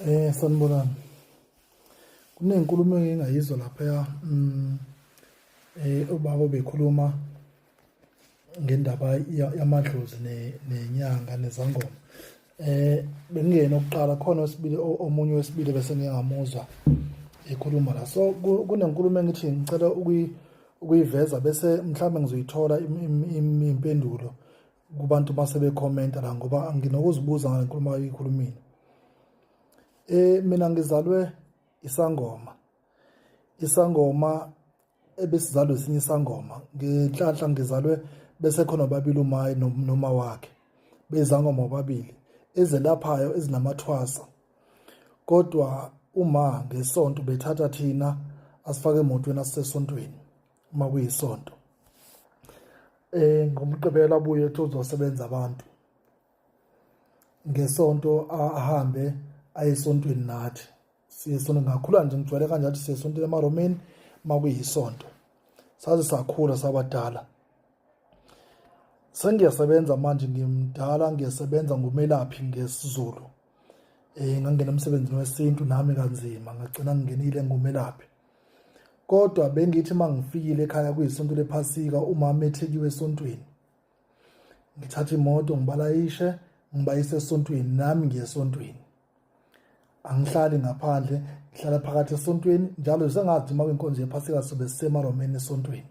Eh sanibonani. Kunenkulumo engingayizwa lapha mm eh ubaba bekhuluma ngendaba yamadlozi nenyanga nezangoma. Eh bengiyena oqala khona wesibili omunye wesibili bese ngingamuzwa ekhuluma la. So kunenkulumo engithi ngicela ukuyi ukuyiveza bese mhlawumbe ngizoyithola impendulo kubantu uma sebekhomenta la ngoba nginokuzibuza ngale nkulumo ayikhulumile um mina ngizalwe isangoma isangoma ebesizalwe esinye isangoma ngenhlanhla ngizalwe bese khona babili umayi noma wakhe bezangoma babili ezelaphayo ezinamathwasa kodwa uma ngesonto bethatha thina asifake emotweni asisesontweni uma kuyisonto eh ngomgqibelo abuye ethi uzosebenza abantu ngesonto ahambe ayesontweni nathi siye sonto ngakhula nje ngijwayele kanje athi siye sontweni emaromeni uma kuyisonto saze sakhula sabadala sengiyasebenza manje ngimdala ngiyasebenza ngumelaphi ngesizulu um ngangena emsebenzini wesintu nami kanzima ngagcina ngingenile ngumelaphi kodwa bengithi uma ngifikile ekhaya kuyisonto lephasika umama ethekiwe esontweni ngithatha imoto ngibalayishe ngibayise esontweni nami ngiye esontweni angihlali ngaphandle ngihlala phakathi esontweni njalo sengathi uma kwinkonzo yephasika sobe sisemaromeni esontweni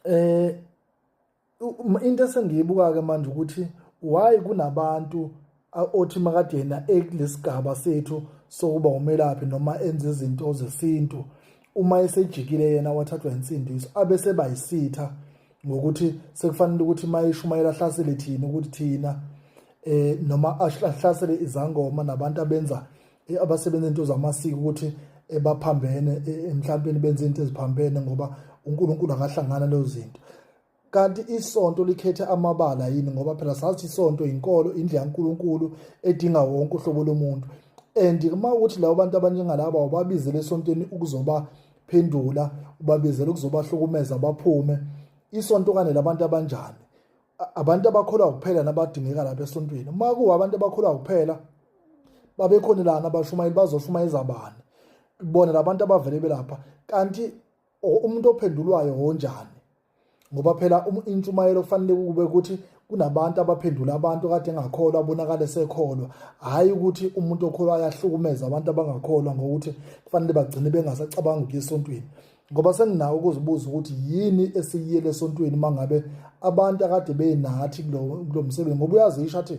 eh into esengiyibuka ke manje ukuthi why kunabantu othi makade yena ekulesigaba sethu sokuba umelaphi noma enze izinto zesintu uma esejikile yena wathathwa insindiso abese bayisitha ngokuthi sekufanele ukuthi mayishumayela hlasele thina ukuthi thina eh noma ahlasele izangoma nabantu abenza eh, abasebenza into zamasiko ukuthi eh, baphambene eh, emhlawumbeni benze into eziphambene ngoba uNkulunkulu akahlangana lezo zinto kanti isonto likhethe amabala yini ngoba phela sathi isonto inkolo indlela kaNkulunkulu edinga wonke uhlobo lomuntu and uma ukuthi labo bantu abanjengalaba ubabizele esontweni ukuzoba phendula ubabizele ukuzobahlukumeza baphume isonto kane labantu abanjani abantu abakholwa kuphela nabadingeka lapha esontweni uma kuwa abantu abakholwa kuphela babekhona lana abashumayeli bazoshumayeza bani bona labantu abavele belapha kanti umuntu ophendulwayo wonjani ngoba phela um, intshumayelo kufanele kube ukuthi kunabantu abaphendula abantu kade engakholwa abonakale sekholwa hhayi ukuthi umuntu okholwa ayahlukumeza abantu abangakholwa ngokuthi kufanele bagcine bengasacabangi ukuya esontweni ngoba senginawo ukuzibuza ukuthi yini esiyiyele esontweni mangabe abantu akade benathi kulo msebenzi ngoba uyazisho athi